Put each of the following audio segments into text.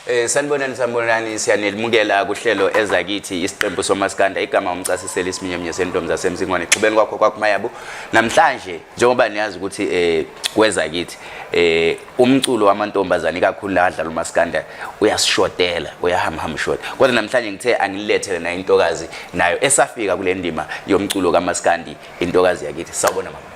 Eh sanibonani sanibonani siyanelmukela kuhlelo ezakithi isiqembu somaskanda igama umcasiseli isiminyeminye sentombi zasemzingwane xubeni kwakho kwakumayabo namhlanje njengoba niyazi ukuthi eh kweza kithi eh umculo wamantombazane kakhulu la adlala umaskanda uyasishotela uyahamham short kodwa namhlanje ngithe angilethele na intokazi nayo esafika kule ndima yomculo kamaskandi intokazi yakithi sawubona mama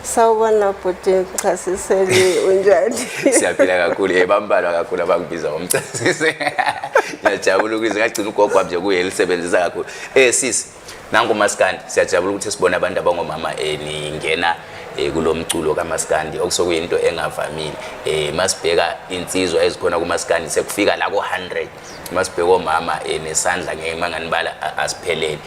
sawubona bhuti ngichasisele unjani siyaphila kakhulu ye bambalwa kakhulu abangibiza ngomchasise ngiyajabula ukwize ngagcina ugogo wami nje kuye lisebenzisa kakhulu eh sisi nangu maskandi siyajabula ukuthi sibone abantu abangomama eh ningena eh kulo mculo kamaskandi okusokuyinto engavamile eh masibheka insizwa ezikhona kumaskandi sekufika la ko 100 masibheka omama eh nesandla ngeke manganibala asiphelele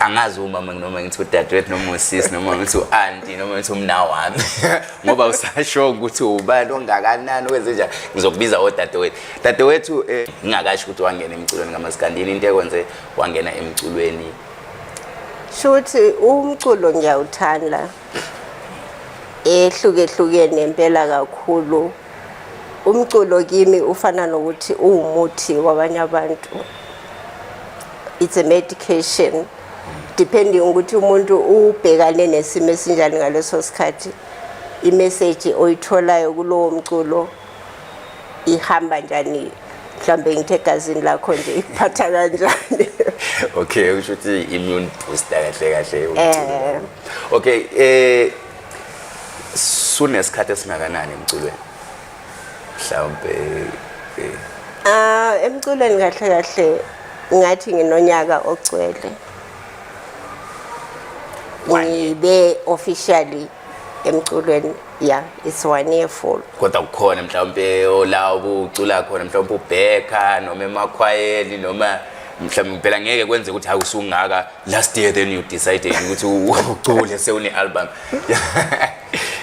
angazi umama noma ngithi udadewethu noma usisi noma ngithi u-anti noma ngithi umna wami ngoba usasho ukuthi ubani ongakanani wenze njani ngizokubiza odadewethu dadewethu um eh, ngingakasho ukuthi wangena emculweni kamasikandini into ekwenze wangena emculweni shuthi umculo ngiyawuthanda ehlukehlukene impela kakhulu umculo kimi ufana nokuthi uwumuthi wabanye abantu it's a medication depending ukuthi umuntu ubhekane nesimo esinjani ngaleso sikhathi imeseji oyitholayo kulowo mculo ihamba njani mhlawumbe ngithe egazini lakho nje ikuphatha kanjani okay usho ukuthi immune booster kahle kahle eh. okay eh sunesikhathi esingakanani emculweni mhlawumbe eh. ah emculweni kahle kahle ngathi nginonyaka ogcwele ngibe officially emculweni ya it's one year full kodwa kukhona mhlawumbe ola ubucula khona mhlawumbe ubheka noma emakhwayeni noma mhlawumbe phela ngeke kwenze ukuthi hakusungaka last year then you decided ukuthi ucule sewune-album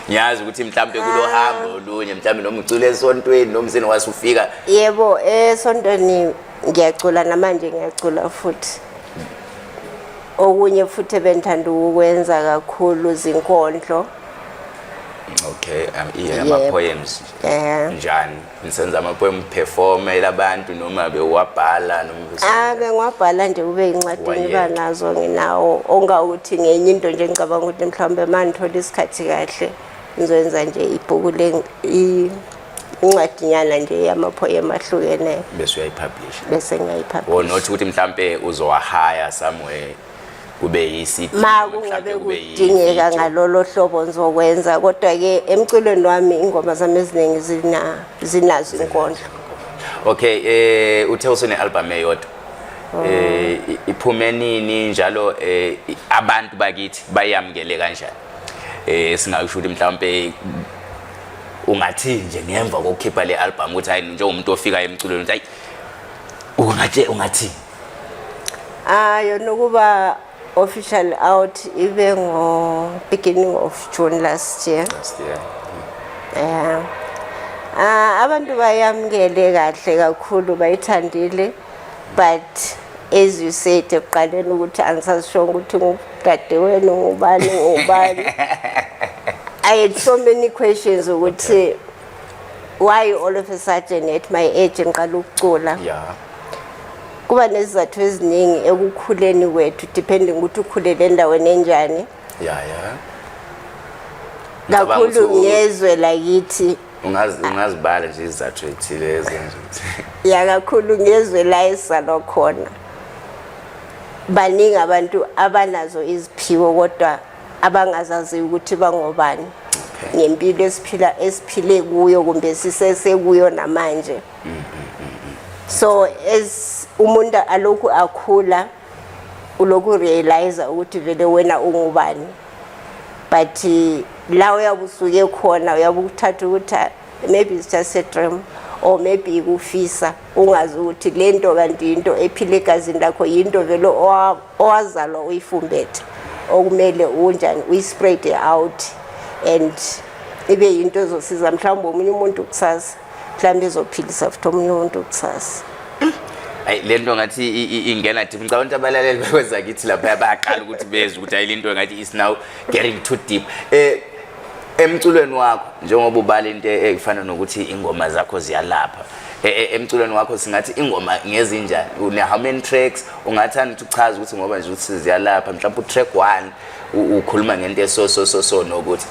ngiyazi ukuthi mhlawumbe kulo ah. hambo olunye mhlawumbe noma ucule esontweni noma useni wase ufika yebo esontweni ngiyacula namanje ngiyacula futhi okunye futhi ebendithanda ukwenza kakhulu zinkondlo okay um, yeah, ama-poems njani nisenza amapoem performela abantu noma bewabhala noma bengiwabhala nje kube yincwadini iba nazo nginawo ongawuthi ngenye into nje ngicabanga ukuthi mhlawumbe uma ngithola isikhathi kahle ngizoyenza nje ibhuku le incwadinyana nje yamaphoyem ahlukeneyo bese uyayipublisha bese ngiyayipublisha or not ukuthi mhlampe uzowahaya somewhere kube yisidingo ma kungabe kudingeka ngalolo hlobo ngizokwenza kodwa-ke emculweni wami ingoma zami eziningi zinazo inkondlo okay eh uthe usune-albhamu eyodwa oh. eh iphume nini njalo eh abantu bakithi bayamukele kanjani eh singakusho ukuthi mhlawumbe ungathi nje ngemva kokukhipha le album ukuthi hayi njengomuntu ofika emculweni ukuthi hayi ungathi ungathi Ah yona ukuba official out ibe ngo beginning of June last year. Last year. Yeah. Ah abantu bayamukele kahle kakhulu bayithandile but as you said ekuqaleni ukuthi angisashonga ukuthi ngudadewenu ngubani ngubani. I had so many questions ukuthi why all of a sudden at my age ngiqala ukucula. Yeah. kuba nezizathu eziningi ekukhuleni kwethu depending ukuthi ukhulele endaweni enjani ya ya kakhulu ngezwe lakithi ungazibala nje izizathu ezithile ezenza ukuthi ya kakhulu ngezwe la esizalwa khona baningi abantu abanazo iziphiwo kodwa abangazazi ukuthi bangobani ngempilo esiphila esiphile kuyo kumbe sisesekuyo namanje okay. so as umuntu alokhu akhula ulokhu realize ukuthi vele wena ungubani but la uyabe usuke khona uyabe ukuthatha ukuthi ah, maybe it's just a dream or maybe ikufisa ungazi ukuthi le nto kanti yinto ephile egazini lakho yinto vele owazalwa uyifumbethe okumele unjani uyispread out and ibe yinto ezosiza mhlawumbe omunye umuntu kusasa mhlawumbe izophilisa futhi omunye umuntu kusasa ayi le nto ngathi ingena deep ngicabanga ukuthi abalaleli bakwenza kithi lapha bayaqala ukuthi bezwe ukuthi ayi le nto ngathi is now getting too deep eh emculweni wakho njengoba ubala into ekufana nokuthi ingoma zakho ziyalapha e, e, emculweni wakho singathi ingoma ngezinjani une how many tracks ungathanda ukuthi uchaze ukuthi ngoba nje ukuthi ziyalapha mhlawumbe utrack 1 ukhuluma ngento eso so so so nokuthi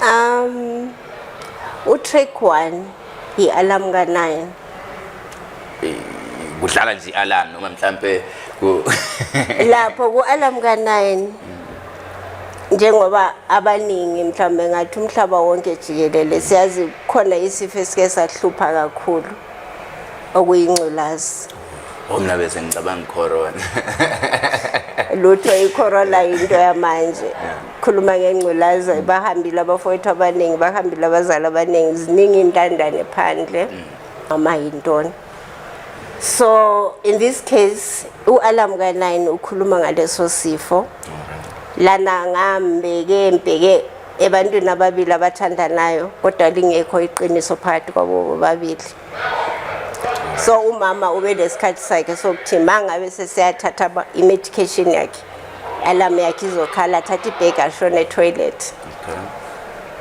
um utrack 1 yi-alarm ka-9 Eh, kudlala nje i-alarm noma mhlampe ku- lapho ku-alarm ka-9 njengoba abaningi mhlawumbe ngathi umhlaba wonke jikelele siyazi khona isifo esike sahlupha kakhulu okuyingculazi Oh, mna bese ngicabanga icorona lutho icorona yinto yamanje khuluma ngengculaza bahambile abafowethu abaningi bahambile abazali abaningi ziningi intandane phandle noma yintoni so in this case u-alam kanayini ukhuluma ngaleso sifo lana ngambeke mbheke ebantwini ababili abathandanayo kodwa lingekho iqiniso phakathi kwabo bobabili so umama ube nesikhathi sakhe sokuthi mangabe seseyathatha i-medication yakhe alarm yakhe izokhala athatha ibhegi ashone etoilet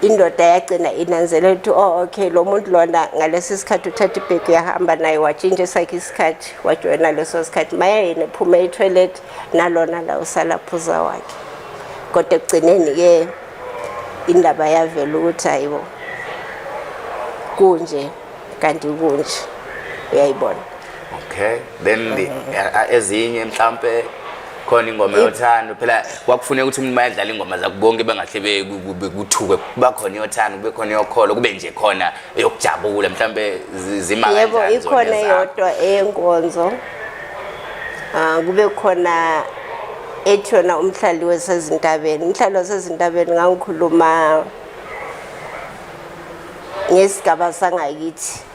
indoda yagcina inanzelela ukuthi oh okay lo muntu lona ngalesi sikhathi uthatha ibhegi uyahamba naye watshintsha esakhe isikhathi wajoyina leso sikhathi maya yena ephuma etoilet nalona la usala phuza wakhe kodwa ekugcineni-ke indaba yavela ukuthi hayibo kunje kanti kunje uyayibona okay then mm-hmm. eh, eh, ezinye mhlampe khona ingoma yothando phela kwakufuneka ukuthi umuntu mayadlala ingoma zakho bonke bengahle bekuthuke kuba khona yothando kube khona yokholo kube nje khona eyokujabula mhlambe zima kanjani yebo ikhona yodwa eyenkonzo ah kube khona ethi yona umhlali wesezintabeni umhlali wasezintabeni ngangikhuluma ngesigaba sangakithi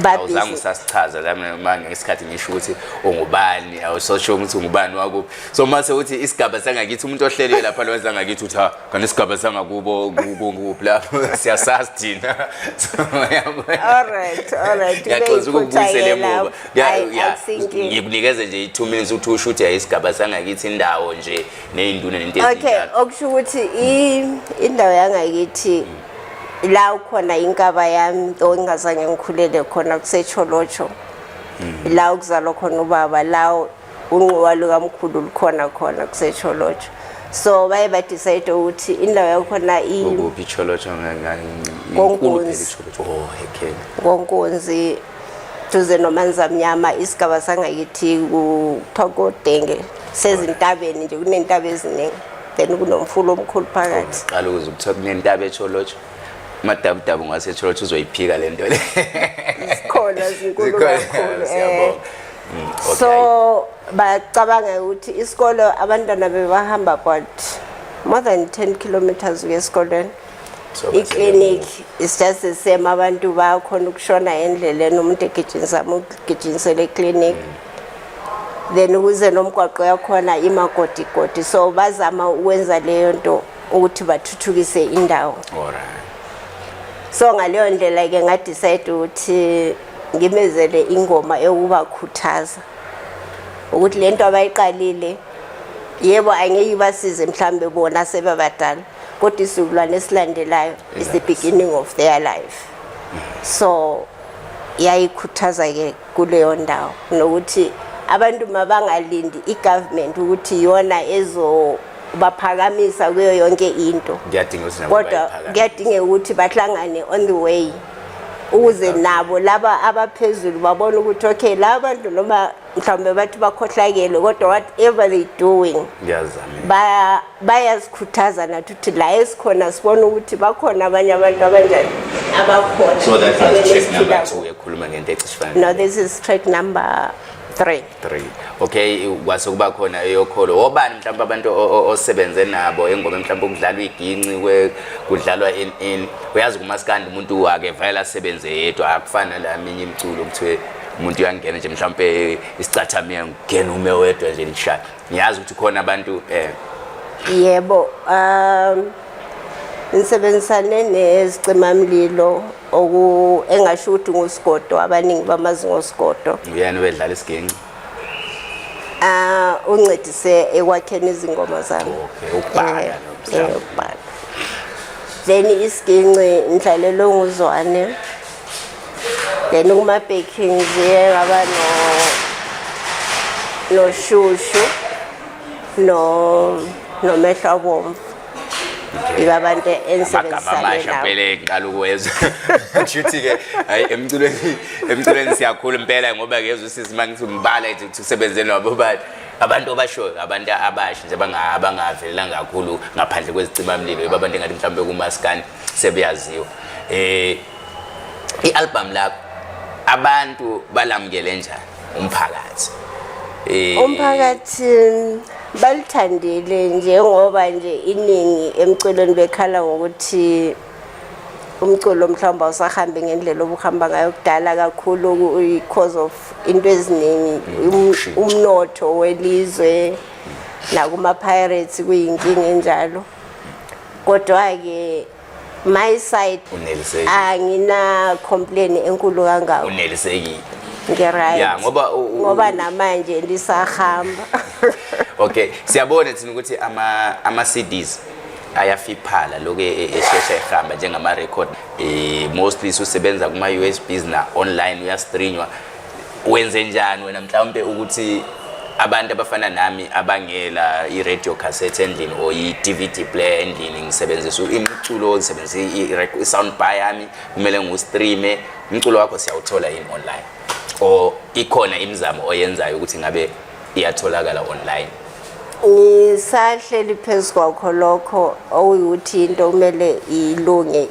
awuzange usasichaza lama ngesikhathi ngisho ukuthi ungubani awusosho ukuthi ungubani wakuphi so uma sewuthi isigaba sangakithi umuntu ohleliwe lapha lwenza angakithi uthi ha kanti isigaba sangakubo kukuphi lapho siyasazi thina so yabo all right all right yaxoza ukubuyisela emuva Yeah, Ayi, yeah. ayisikho inkinga. ngikunikeze nje i-two minutes ukuthi usho ukuthi ayisigaba sangakithi indawo nje ney'nduna nento okay ezinjalo okusho ukuthi i- indawo yangakithi la ukhona inkaba yami though ingazange ngikhulele khona kusecholotsho la ukuzalwa khona ubaba la unquwa lukamkhulu lukhona khona kusecholotsho so baye badecide ukuthi indawo yakhona i- ukuphi icholotsho ngonkunzi Oh, konkunzi duze nomanzamnyama isigaba sangakithi kuthiwa kodenge sezintabeni nje kunentaba eziningi then kunomfula omkhulu phakathi qala ukuze ukuthiwa kunentaba echolotsho madabudabu ngasecholotsho uzoyiphika le nto le zikhona zinkulu kakhulu eh. mm, so bacabanga ukuthi isikolo abantwana bebahamba but more than 10 kilometers uye esikolweni iclinic is just the same abantu bakhona ukushona endleleni umuntu egijinisa ugijinisele eclinic mm. then ukuze nomgwaqo yakhona imagodigodi so bazama ukwenza leyo nto ukuthi bathuthukise indawo so ngaleyo ndlela ke ngadecide ukuthi ngimezele ingoma ewubakhuthaza ukuthi lento abayiqalile yebo angeke ibasize mhlambe bona sebabadala kodwa isizukulwane esilandelayo is the beginning of their life so yayikhuthaza ke kuleyo ndawo nokuthi abantu mabangalindi i-government ukuthi iyona ezobaphakamisa kuyo yonke into kodwa kuyadingeka ukuthi bahlangane on the way ukuze nabo laba abaphezulu babone ukuthi okay laba bantu noma mhlawumbe bathi bakhohlakele kodwa whatever they doing bayazikhuthaza nathi ukuthi la esikhona sibone ukuthi bakhona abanye abantu abanjani abakhonauyakhuluma ngento ecishifanele no this is track number three three okay kwase kuba khona eyokholo obani mhlawumbe abantu osebenze nabo engoma mhlawumbe kudlalwa iginci kudlalwa in in uyazi kumaskandi umuntu wake vayela asebenze yedwa akufana la minye imiculo kuthiwe umuntu uyangena nje mhlawumpe isicathamiya ngena ume wedwa nje nishaya ngiyazi ukuthi khona abantu eh yebo um ngisebenzisane nezicimamlilo oku engasho ukuthi ngusigodo abaningi bamazi ngosigodo uyena wedlala isigenci ah uncedise ekwakheni izingoma zami okay ukubhala eh, eh, ukubhala then isiginci ngidlalelwe nguzwane then kuma-baking ziye ngaba noshushu nomehlo abomvu yiba abantu ensebenzisanelawobeleyqalukwezwa shuthi-ke hayi emculweni emculweni siyakhulu impela ngoba ngezwa usisi uma ngithi umbala ethi kuthi usebenze nabo bani abantu abashoyo abantu abasha nje abangavelelanga kakhulu ngaphandle kwezicimamlilo yiba abantu engathi mhlawumbe kumaskandi sebuyaziwa eh ialbum lakho abantu balamukele njani umphakathi eh umphakathi balithandile njengoba nje iningi emculweni bekhala ngokuthi umculo mhlawumbe awusahambi ngendlela obuhamba ngayo kudala kakhulu because of into eziningi um, umnotho welizwe nakumapirates kuyinkinga enjalo kodwa-ke my side unelisekile angina complain enkulu kangako unelisekile ngiright ya ngoba u- u- ngoba namanje lisahamba okay siyabona thina ukuthi ama ama CDs ayafiphala lokho e- e- eshesha ehamba njengama record eh mostly usebenza kuma USBs na online uyastreamwa wenze njani wena mhlawumbe ukuthi abantu abafana nami abangela i-radio cassette endlini or i-dvd player endlini ngisebenzisa imiculo ngisebenzisa i-sound bar yami kumele ngiwustreame umculo wakho siyawuthola yini online or ikhona imizamo oyenzayo ukuthi ngabe iyatholakala online isahleli phezu kwakho lokho okuyukuthi into kumele ilunge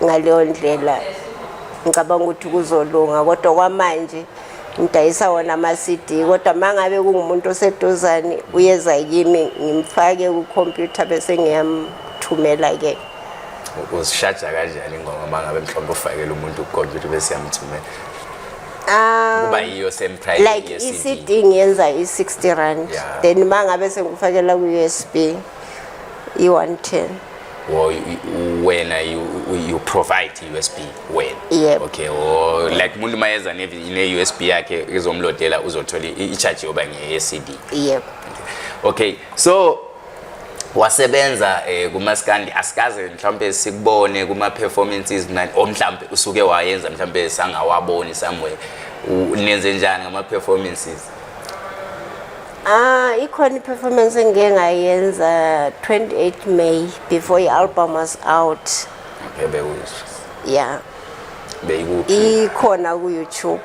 ngaleyo ndlela ngicabanga ukuthi kuzolunga kodwa kwamanje ngidayisa wona ama-cd kodwa uma ngabe kungumuntu oseduzane uyeza kimi ngimfake kukhompyutha bese ngiyamthumela-ke uzishaja kanjani ingoma uma ngabe mhlawumbe ufakele umuntu kukhompyutha bese yamthumela Um, kuba yiyo same price like i-cd ngiyenza i-60 rand then uma ngabe sengikufakela ku-usb i-110 or wena you, you provide i-usb wena yep. okay or like umuntu uma yeza ne-usb yakhe izomlodela uzothola i-charge yoba ngeye-cd yep. okay so wasebenza eh kumaskandi asikaze mhlawumbe sikubone kuma performances manje o mhlawumbe usuke wayenza mhlawumbe sangawaboni somewhere nenze njani ngama performances Ah, ikhona i-performance engike ngayenza 28 May before i-album was out. Okay, bewuzwa. Yeah. Beyikuphi? Ikhona ku YouTube.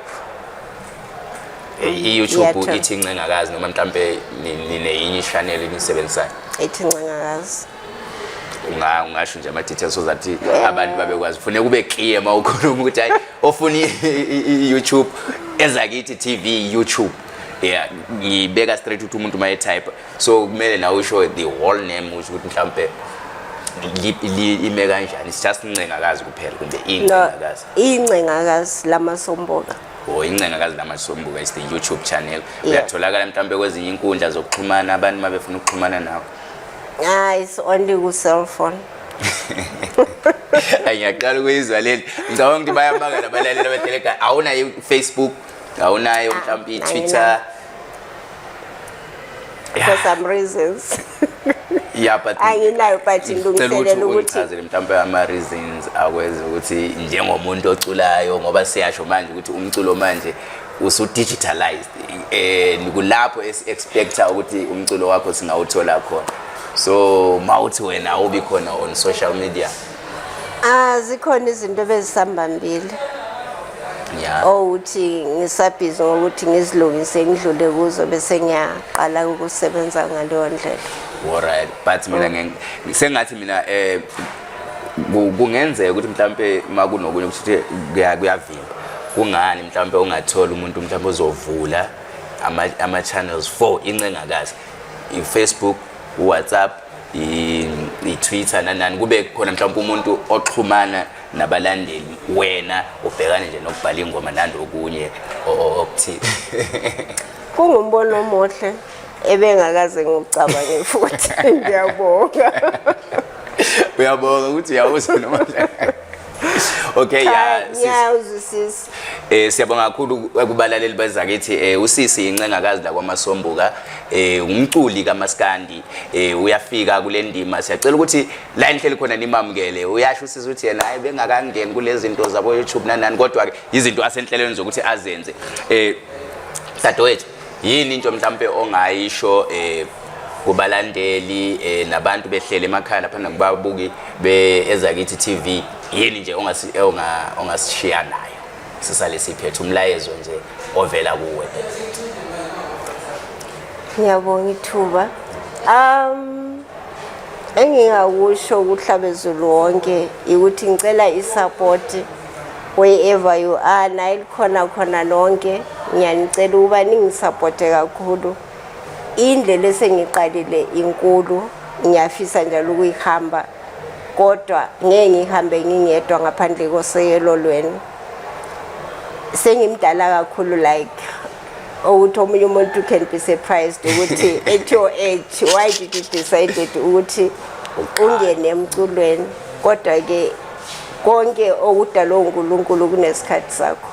Eh, I-YouTube ithi incengakazi noma mhlambe nineyinye i-channel enisebenzisayo. Ithi incengakazi. unga ungasho nje ama details so that abantu babekwazi kufuneka ube clear mawukhuluma ukuthi hayi ofuna i YouTube ezakithi TV YouTube yeah ngiyibeka straight ukuthi umuntu uma etype so kumele nawe usho the whole name usho ukuthi mhlawumbe ime kanjani it's just incengakazi kuphela kumbe incengakazi incengakazi lamasomboka or oh, incengakazi lamasomboka is the youtube channel uyatholakala mhlawumbe kwezinye inkundla zokuxhumana abantu uma befuna ukuxhumana nawe ah it's only ku cell phone ngiyaqala ukuyizwa leli ngicabanga ukuthi bayamangala balalela abahleleka awunayo facebook awunayo mhlawumbe i-twitter for some reasons yeah but anginayo but ngilungiselela ukuthi ngicela mhlawumbe ama reasons akwenza ukuthi njengomuntu oculayo ngoba siyasho manje ukuthi umculo manje usu digitalized eh kulapho esi expecta ukuthi umculo wakho singawuthola khona so mawuthi wena awubi khona on social media Ah zikhona izinto bezisambambile. Yeah. Owuthi oh, ngisabhizi ngokuthi ngizilungise ngidlule kuzo bese ngiyaqala ukusebenza ngaleyo ndlela. Alright, but mina mm. ngisengathi mina eh kungenzeka ukuthi mhlambe makunokunye ukuthi kuyavimba. Kungani mhlambe ungathola umuntu mhlambe ozovula ama ama channels for incengakazi. iFacebook, WhatsApp i-twitter nanani kube khona mhlawumpe umuntu oxhumana nabalandeli wena ubhekane nje nokubhala ingoma nandi okunye okuthile kungumbono omuhle ebengakaze ngikucabange futhi ngiyabonga uyabonga ukuthi uyawuza noma okay ya ngiyawuzwisisa Eh siyabonga kakhulu kubalaleli bazakithi eh usisi incengakazi la kwamasombuka eh umculi kamaskandi eh uyafika kule ndima siyacela ukuthi la inhleli khona nimamukele uyasho usisi ukuthi yena hayi bengakangeni kulezi zinto zabo YouTube nanani kodwa ke izinto asenhlelweni zokuthi azenze eh dadewethu yini into mhlampe ongayisho eh kubalandeli eh nabantu behlele emakhaya lapha nakubabuki be ezakithi TV yini nje ongasi eh, onga ongasishiya nayo sisale siphethe umlayezo nje ovela kuwe Ngiyabonga ithuba um engingakusho kuhlabezulu wonke ukuthi ngicela isupport wherever you are naye likhona khona lonke ngiyanicela ukuba ningisupporte kakhulu indlela esengiqalile inkulu ngiyafisa njalo ukuyihamba kodwa ngeke ngihambe ngingedwa ngaphandle koseyelo lwenu sengimdala kakhulu like ukuthi omunye umuntu can be surprised ukuthi at your age why did you decided ukuthi ungene emculweni kodwa-ke konke okudalwe uNkulunkulu kunesikhathi sakho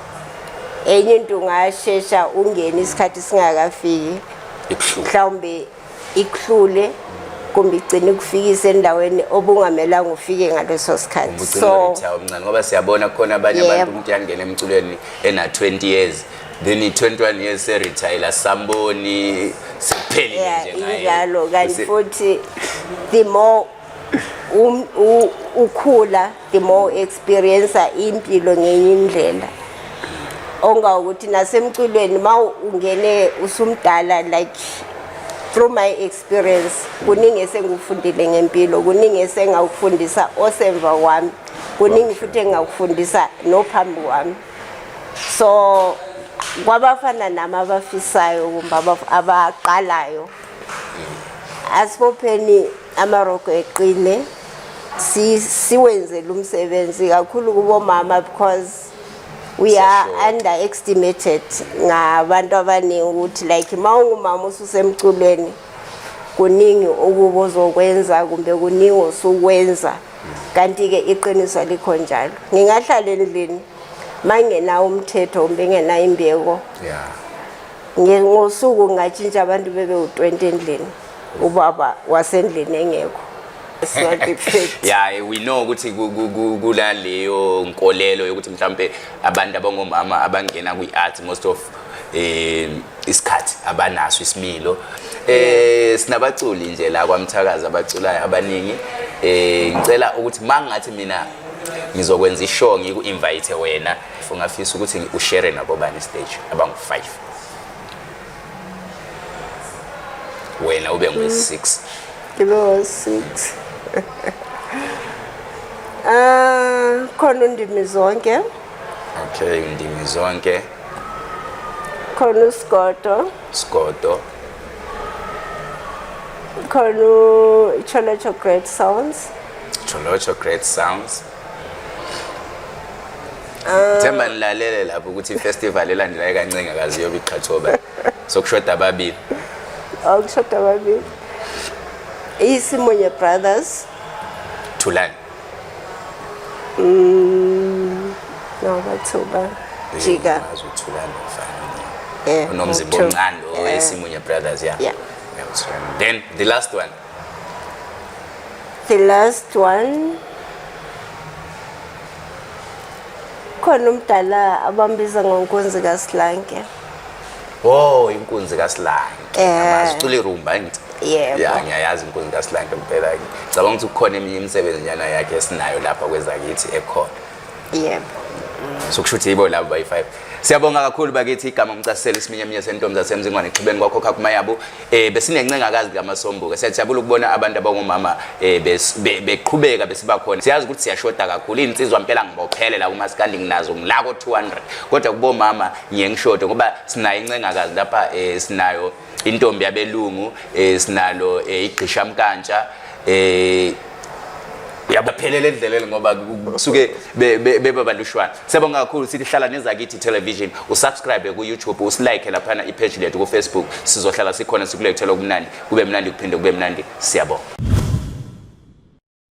enye into ungashesha ungene isikhathi singakafiki mhlawumbe ikuhlule kumbe igcine kufikisa endaweni obungamelanga ufike ngaleso sikhathi so omncane ngoba siyabona khona abanye abantu umuntu yangena emculweni ena 20 years then 21 years se retire samboni siphelile nje ngaye kanti futhi the more um, ukhula the more experiencer impilo ngenye indlela onga ukuthi nasemculweni ma ungene usumdala like through my experience kuningi esengikufundile ngempilo kuningi esengakufundisa osemva wami kuningi futhi engakufundisa nophambi wami so kwabafana nami abafisayo kumbe abaqalayo asibopheni amarogo eqine siwenzele umsebenzi kakhulu kubomama because we are underestimated ngabantu abaningi ukuthi like uma ungumama ususemculweni kuningi ukuba ozokwenza kumbe kuningi osukwenza kanti-ke iqiniso alikho njalo ngingahlala endlini mangenawo umthetho kumbe ngenayo imbeko ngosuku ngatshintsha abantu bebe u-20 endlini ubaba wasendlini engekho yaye we know ukuthi kula leyo nkolelo yokuthi mhlawumbe abantu abangomama abangena kwi-art most of um isikhathi abanaso isimilo eh sinabaculi nje la kwamthakazi abaculayo abaningi eh ngicela ukuthi mangathi mina ngizokwenza ishow ngiku invite wena ungafisa ukuthi ushare nabo bani stage abangu 5 wena ube ngwe-6 ngibe ngo-6 um khona undimi zonke okay undimi zonke khona usigodo sigodo khona icholocho great sounds cholocho great sounds Ah. Themba nilalele lapho ukuthi ifestival elandelayo kancenga kazi yobe iqhathoba. Sokushoda ababili. Awukushoda ababili. Isimonye Brothers. Thulani. Mm. No, bathuba. Jika. Uthulani mfana. Eh. Unomzimba omncane oweSimunye Brothers, yeah. Yeah. Then the last one. the last one khona umdala abambiza ngonkunzi kasilanke oh inkunzi kasilanke amazicula eh. irumba ngithi yebo ya ngiyayazi inkunzi kasilanke mpela ngicabanga ukuthi kukhona eminye imisebenzi nyana yakhe esinayo lapha kwezakithi ekhona yebo so kusho ukuthi yibo labo bayi-five siyabonga kakhulu bakithi igama umcasiselo isiminyaminya sentombi zasemzingwane xhibeni kwakhokha kumayabo um eh, besinencengakazi likamasombuka siyajabula ukubona abantu abangomama um beqhubeka besibakhona siyazi ukuthi siyashoda kakhulu iy'nsizwa mpela ngibophele la kumasikandi nginazo ngilako-two hundred kodwa kubomama ngiye ngishode ngoba sinayo incengakazi lapha um sinayo intombi yabelungu eh, sinalo eh, igqishamkantsha eh uyabaphelela endleleni ngoba kusuke beba balushwana sebonga kakhulu sithi hlala nezakithi television usubscribe ku-youtube usilike laphana ipage lethu kufacebook sizohlala sikhona sikulethela okumnandi kube mnandi kuphinde kube mnandi siyabonga